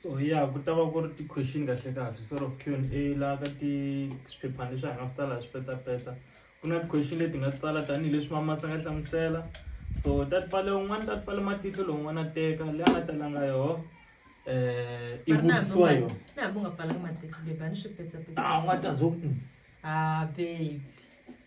so ya ku ta va ku ri ti-question kahle kahle sort of q and a laha ka ti swiphephana leswi hi nga swi tsala hi swipetsapetsa ku na ti-question leti nga tsala tanihileswi mamasi a nga hlamusela so ta ti pfale un'wana ta ti pfale matihlo lowun'wana a teka leyi a nga talanga yoho um i vutisiwa yoho na hambi u nga pfalanga matihlo bebi a ni swipetsapetsa a u nga ta zo a baby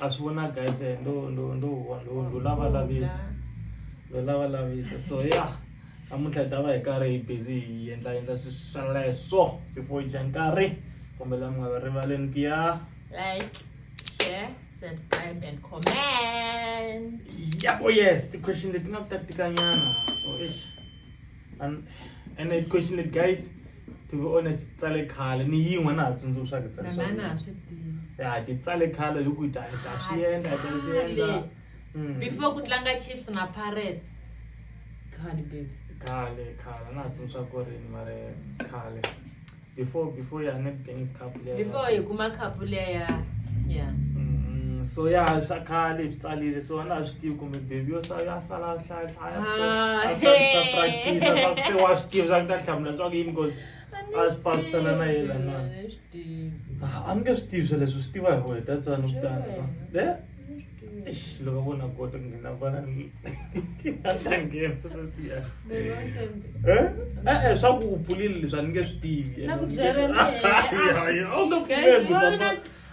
A swi vona guys eh, ndo ndo ndo ndo ndo lava lavisa ndo lava lavisa so ya namuntlha hi ta va hi karhi hi busy hi endla endla sweswo before hi dya nkarhi kombela mi nga va rivaleni ku ya like share subscribe and comment yabo yes ti-question leti nga ku ta tikanyana so ish and and I question it guys to be honest tsale khale ni yin'we na ha tsundzuxaka tsale na na ha swi tivi ya ti tsale khale hi ku ta ta swi endla ta swi endla hmm. before ku tlanga Chiefs na Pirates khale baby khale khale na ha tsundzuxa ku ri ni mare khale before before ya Nedbank Cup leya before hi kuma cup leya ya ya mm, so ya swa khale hi tsalile so na swi tivi kumbe baby yo sala ya sala hlaya hlaya ah, sa practice sa ku se wa swi tivi swa ku ta hlamula swa ku yini cause a swi fambisana na yena na ah, a ni nge swi tivi sweleswo swi tiva hi wena that's why ni kutana swa le Loko kota ku nghena vana a ta nghena sesi ya e-e swa ku u pfulile leswi a ni nge swi tivi u nge pfumelisa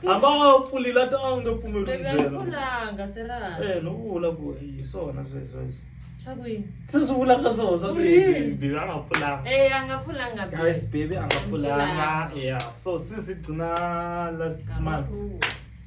hamba a pfulile a ta a nge pfumeli byela no vula ku hi swona sweswo leswi se swi vulaka swona swa bebi a nga pfulanga guys bebi a nga pfulanga ya so sisi gcina last month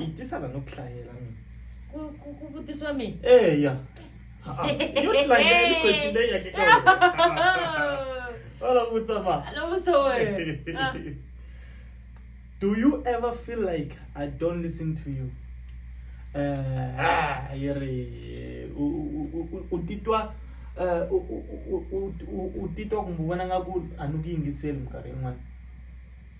yi tisa la no ku hlayela mina Ku- ku- ku vutisiwa mina eya Ha-a. yo tlangela ni question leyi yake ka wena wala vutsa ma Hello, Zoe. Ah. do you ever feel like i don't listen to you Eh, ah, yi ri u- u- u- u- u titwa eh, u- u- u- u- u- u titwa kumbe u vona nga ku a ni ku yingiseli minkarhi yin'wana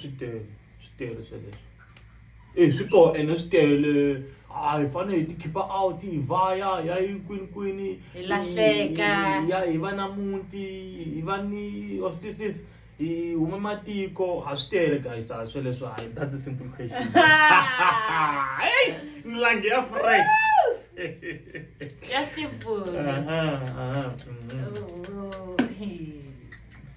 swi tele swi tele sweleswo e swi koho ene swi tele a hi fanele hi ti khipa out hi vaya hi ya yi kwini kwini hi lahleka ya hi va na muti hi va ni wa swi twisisa hi huma matiko ha swi tele guys a sweleswo hayi that's a simple question heyi milangi ya fresh ya simple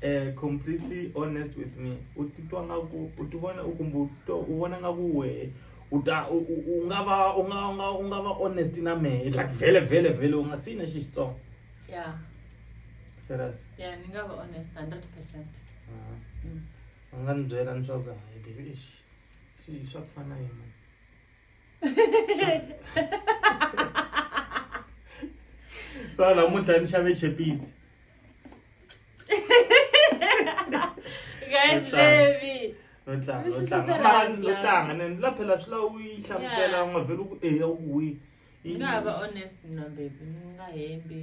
eh, completely honest with me u titwa nga ku u ti vona u kumbe u titwa u vona nga ku wehe u ta u- u u nga va u nga u nga u nga va honest na mehe like vhele vhele vhele u nga siyi na xi xitsongo ya serious ya ni nga va honest 100 percent Ah. Mm. u nga ni byela ni swa ku hayi baby eish, swi swa ku fana yini swa namuntlha ni xave chepisi guys baby no tlanga no tlanga mara no tlanga ne ni laphela swi la u yi hlamusela u nga vheli ku eya u wi nga va honest na baby ni nga hembi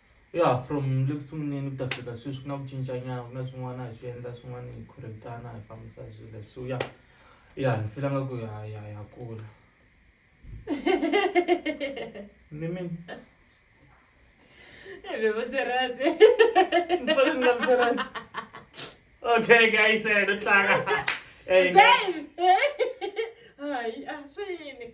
Ya from le ku sunguleni ku ta fika sweswi ku na ku cinca nyana ku na swin'wana hi swi endla swin'wana hi khorintana hi fambisa swilo leswi so ya ya ni fila nga ku ya ya ya kula ni mi bevoserase ni fana ni nga vuserasi okay guys eh no tlanga eh hayi a swini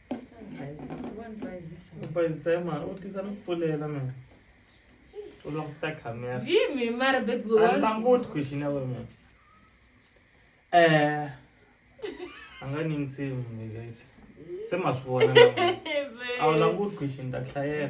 u bayizisa hi mara u tisa ni pfulela mina u languta camera yimi mara baby a ni languti question ya wena mina eh a nga ni nsimu guys se ma swi vona a wu languti question ta ku hlayela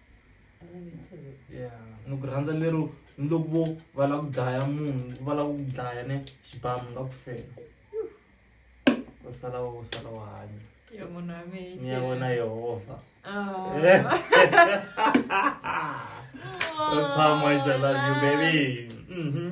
no ku rhandza lero ni loko vo va lava ku dlaya munhu va lava ku dlaya ne xibamu nga ku fela u sala u sala u hanya ni ya vona yehova u tshama jalazi baby mm -hmm.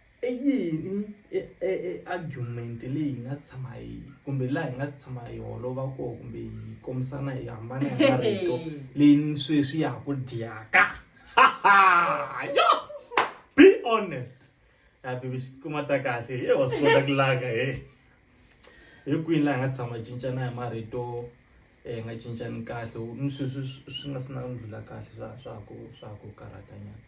I yini argument leyi hi nga tshama hi kumbe laha hi nga tshama hi holova kona kumbe hi kombisana hi hambana hi marito leyi sweswi ya ha ku dyaka yo be honest ya bibi xi tikuma ta kahle e wa swi kota ku langa he hi kwini laha hi nga tshama hi cincana hi marito hi nga cincani kahle ni sweswi swi nga si na ndlhula kahle swa swa ku swa ku karhatanyana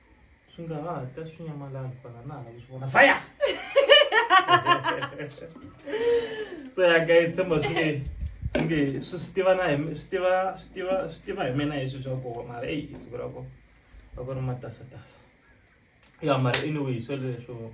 Swi nga ha ta swi nyamalala kwala na hala ku swi vona fire. So ya guys tshemba swi nge swi nge swi swi tiva na hi mi- swi tiva swi tiva swi tiva hi mina hi swi swa koho mara eyi i siku ra ko a ku ri matasatasa. Ya mara anyway hi swo leswo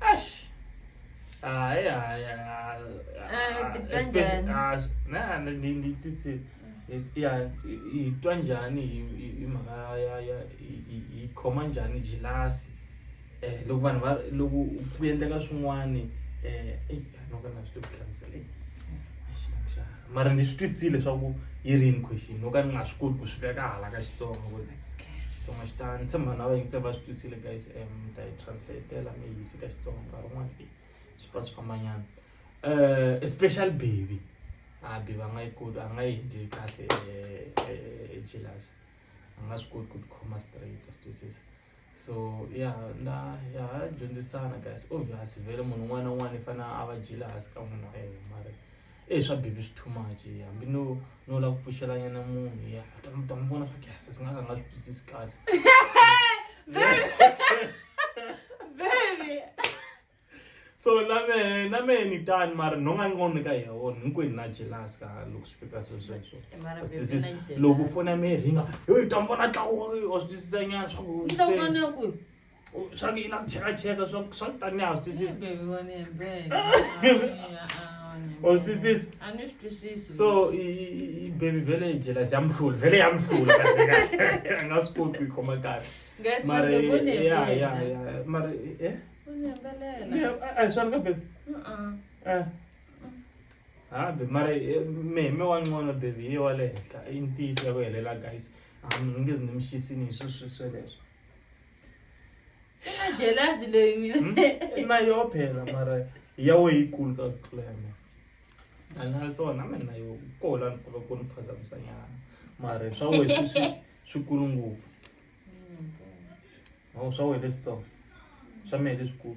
Ash. Ah, ya, ya. Ah, Ah, titwa especially- njhani? ah, na- na- ni- ni- titsi- i- ya, i- i twa njhani hi- hi- hi mhaka ya ya hi- hi- hi khoma njhani jilasi eh loko vanhu va loko ku endleka swin'wani eh eyi, a no ka na swi le ku hlamusela eyi, a xi nga xana. mara ni swi twisisile leswaku yi rini question no ka ni nga swi koti ku swi veka hala ka xitsongo ku ri xitsonga xi ta ni tshemba na vayingiseli va swi twisile guys um ni ta yi translatela mi yisi ka xitsonga nkarhi wun'wana e swi pfa swi fambanyana um especially baby a ah, baby a nga yi koti a nga yi dyi kahle jealous a nga swi koti ku tikhoma straight a swi twisisa so ya na ya dyondzisana guys obvious vele munhu un'wana na un'wana i fanele a va jealous ka munhu wa yena mara Eyi swa baby swi too much hambi no no lava ku pfuxela nyana munhu ya u ta n'wi ta n'wi vona swa ku ya sesi nga ka a nga swi twisisi kahle so na mehe na mehe ni tani mara nhonga nqondo ka ya wona hinkwenu na jealous ka loko swi fika swilo sweswo Mara Wa baby twisisa? na jealous. loko foni ya mehe ringa yo u ta n'wi vona tlawa wa swi twisisa nyana swa ku Ni ta ku se- vona ku swa ku yi lava ku chekacheka swa swa ku tanihi a swi twisisi u swi twisisi so baby vhele yi jelasi ya muhluli vhele ya muhluli a nga swi koti ku yi khoma kahle mara ya ya ya mara e a hi swona ka baby hambi mara meme wa ncono baby yi wa le henhla i ntiyiso ya ku helela guys a mi nge zi ni mixisini hi swi swi sweleswo jelasi leyi hmm? na yo phela mara ya we yi kulu ka ku tlula ya mina a ni na tona mina na yo ko la ni kula ku ni phazamisanyana mara swa we swi kulu ngopfu hmm. swa we leswitsongo swa mehe leswikulu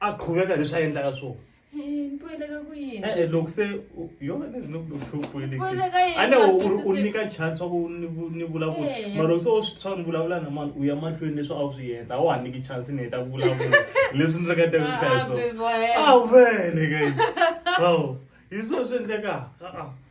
a qhuveka leswi a endlaka swona e-e loko se yona ni zino loko se u puelekane u nyika chance wa ku ni vulavula mara loko se u swi swa ni vulavula na mani u ya mahlweni leswi a wu swi heta a wa ha niki chance ni heta ku vulavula leswi ni ringete ku hlaya swona a vele guys aw hi swona swi endlekaka a-a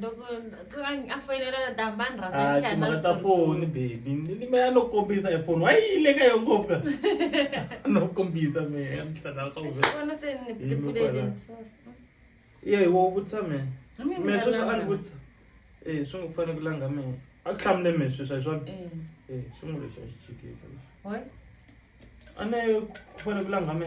loko a foyinela na tamba ni rhasa ah, timhaka ta foni baby ni me a no kombisa hi foni wa yile ka yo ngopfu ka no kombisa me a ni tlhela swa kuvona se ni pfulele ye wo vutisa me me sweswi a ni vutisa eh swi ngo fanele ku langa me a ku hlamule me sweswi hi swona eh, eh swi ngo lexi a xi chikisa a ne ku fanele ku langa me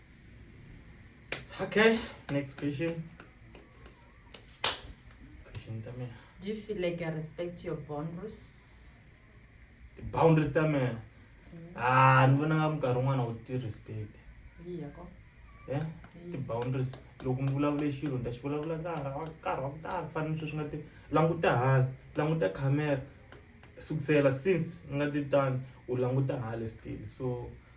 Okay, next question. Question tame. Do you feel like I respect your boundaries? The boundaries tame. Mm. Ah, ni vona nga minkarhi un'wana u ti respect. Iya ko. Yeah? Ti boundaries. Loko ni vulavule xilo ni ta xi vulavula nkarhi wa nkarhi wa ku tala ku fana ni sweswi nga ti languta hala, languta camera. Sukusela since ni nga ti tani u languta hala still so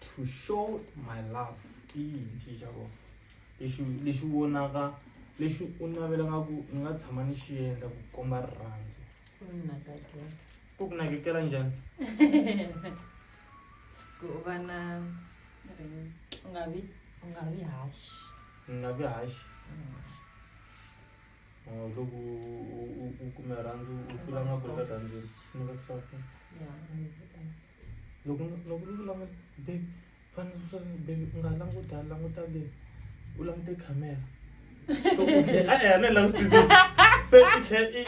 to show my love i yini xi xa kona lexi lexi vonaka lexi u navelaka ku ni nga tshama ni xi endla ku komba rirhandzu ku ni nakekela ku ku nakekela njhani ku u va na u nga vi u nga vi haxi ni nga vi haxi mm. oh, loko u kume rhandzu u tlula nga ku eka rhandzini ni va swaku ya loko loko ni vula babe fane swi babe u nga languta languta le u langute camera so u tlhe a ya ne la swi twisisa se i tlhe i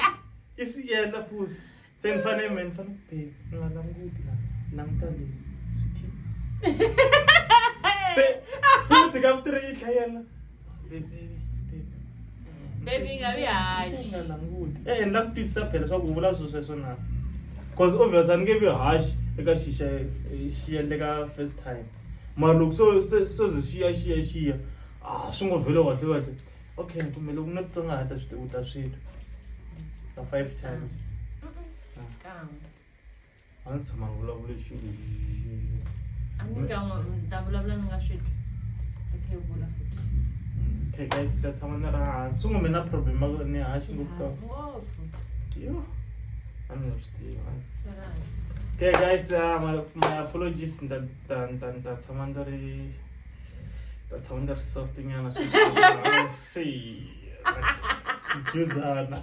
i swi yendla futhi se ni fane me ni fane babe u nga languti la languta le sweetie se futhi ka vutirhi i tlhe yena bebi nga vi haxi nga languti e ni la ku twisisa phela leswaku u vula swilo sweswo na because obvious a ni nge vi haxi eka xixa xi endleka first time mara loko so se so ze xiya xiya xiya a ah, swi ngo vhelo kahle kahle okay kumbe loko na titsongahata swi tivuta swilo ka five times a ndzi tshama ni vulavule xilo a ni ka n'wi ni ta vulavula ni nga swi twi okay u vula futhi okay guys ta tshama ni ri hansi n'we mi na problem ni haxi ngopfu ngopfu yo a ni swi tiva okay guys uh, my, my apologies ni ta ni ta ni ta ni ta tshama ni ri ta tshama ni ri soft nyana swi swi swi juzana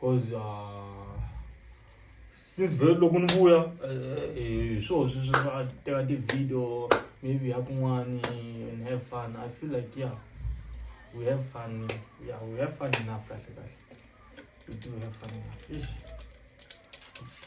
cause uh, since vhele loko ni vuya eh, eh, hi swona sweswi swa teka ti-video maybe ya kun'wani and have fun i feel like yeah we have fun yeah we have fun enough kahle kahle we do have fun enough Eish.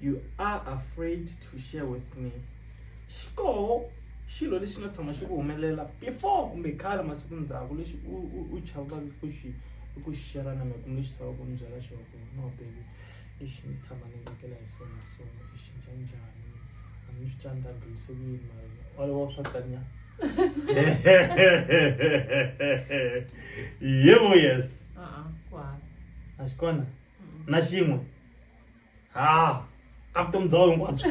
You are afraid to share with me. Xikoho xilo lexi nga tshama xi ku humelela before kumbe khale masiku ndzhaku lexi u u chavaka ku xi ku xi share na mina kumbe lexi tshamaka ku ni byela xona ku no baby lexi ndzi tshama ni tsakela hi swona hi swona i xi dya njhani a ni swi tani ta ndlulise ku yini mara walowo swa tanya yebo yes a a ku hava a xi kona na xin'we ha ka vutomi bya wena hinkwabyo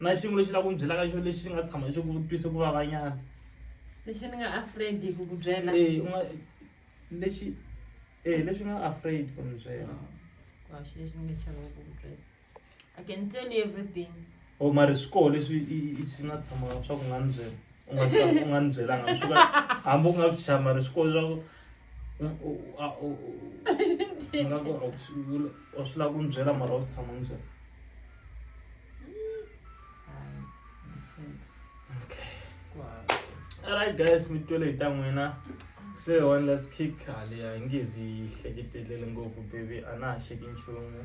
na xiyimo lexi la ku mi byelaka xo lexi xi nga tshama xi ku twise ku vavanyana lexi ni nga afraid ku ku byela eh, lexi eh, lexi nga afraid ku mi byela ah, lexi ni nga chava ku ku byela I can tell you everything. Oh, mari swikoho leswi swi nga tshama swa ku nga ni byela u nga swi u nga ni byelanga swi ka hambi u nga swi tshama mari swikoho swa ku nga ku u swi lava ku ni byela mara u swi tshama ni byela alright guys mi twele hi ta n'wina se one last kick haleya hi nge zi yi hleketelele ngopfu baby a na ha xeki nchumu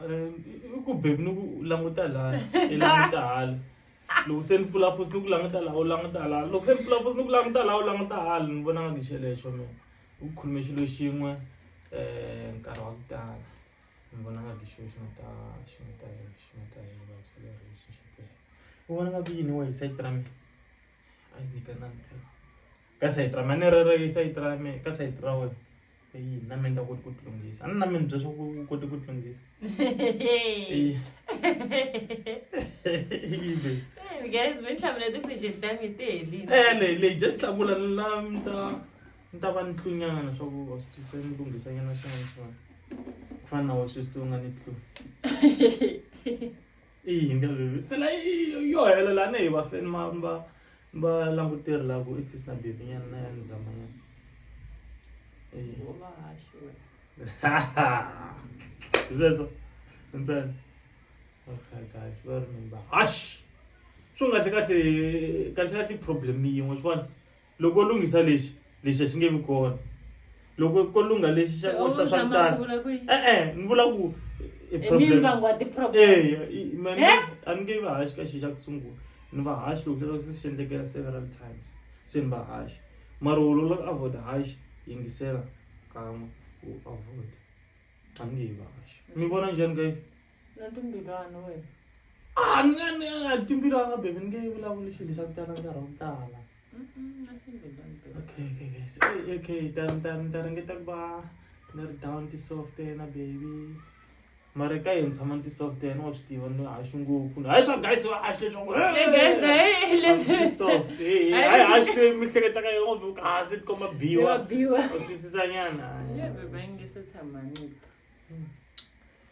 i ku bebi ni ku languta laha i languta hala loko se ni pfula fosi ni ku languta laha u languta hala loko se ni pfula fosi ni ku languta laha u languta hala ni vona nga ngixelexo mina u khulume xilo xin'we um nkarhi wa ku tala ni vona nga ngixilo xi nga ta xi nga ta xi nga ta hi vaviseleriwa xi xi u vona nga ku yini wehe hi sayiti ra mina. Ai, ni ka nna mphela. Ka side ra me, a ni ri ri side ra me, ka side ra wena. Eyi, na me ni nga koti ku tilunghisa. A ni na me ni bya swa ku u kote ku tilunghisa. Eyi. Eyi, babe. Hey, guys, mi ni hlamula ti-question ta mi ti helile. Eh, leyi, leyi, just hlakula ni la mi ta, ni ta va ni tlunyana leswaku wa swi tisa ni lunghisanyana swin'wana swin'wana. Ku fana na wena sweswi se u nga ni tlu. i yini ka vhivhi fela yo helela ne hi va feni ma va va languteri la ku i fisi na bhibhi nyana na ya ni zama nyana sweswo ntsena okaykahle va ri mimba hash swi nga se kasi kasi kasi problem yin'we swi vona loko lunghisa lexi lexi a xi nge vi kona loko ko lungha lexi xa swa swa kutala e-e ni vula ku a ni nge va haxi ka xi xa ku sungula ni va haxi loko xaa se xi endlekela several times se ni va haxi mara wo lola ku avoid haxi yingisela kan'we u avoid a ni nge yi va haxi mi vona njhani ka yi na timbilwana wena a ni nga ni nga timbilwana bebe ni nge yi vulavuli xilo xa ku tala nkarhi wa ku tala okay okay guys okay, okay dar dar dar ngeta ku va ni ri down ti soft na baby mara ka yini tshama ni ti soft yena wa swi tiva ni haxi ngopfu hayi swa guys wa haxi leswaku soft hayi haxi leyi mi hleketa ka yona u kasi ti komba biwa u twisisa nyana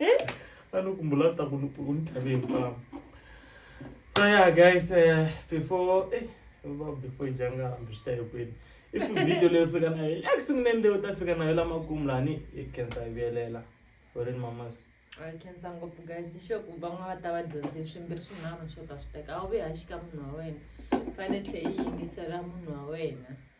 Eh? anokumbula ta kunitave hinkwavo so yeah guys uh, before eh, before janga hambi swi ta hi kwini if video leyi suka na yona eku sunguleni leyi u ta fika na yo lamakumu lani yi khensa yi vuyelela horini mamas khensa ngopfu guys ni sure ku van'wana va ta va dyondze swimbirhi swinharhu swo ta swi teka a wu ve ha xika munhu wa wena fanele tlhe yi yingisela munhu wa wena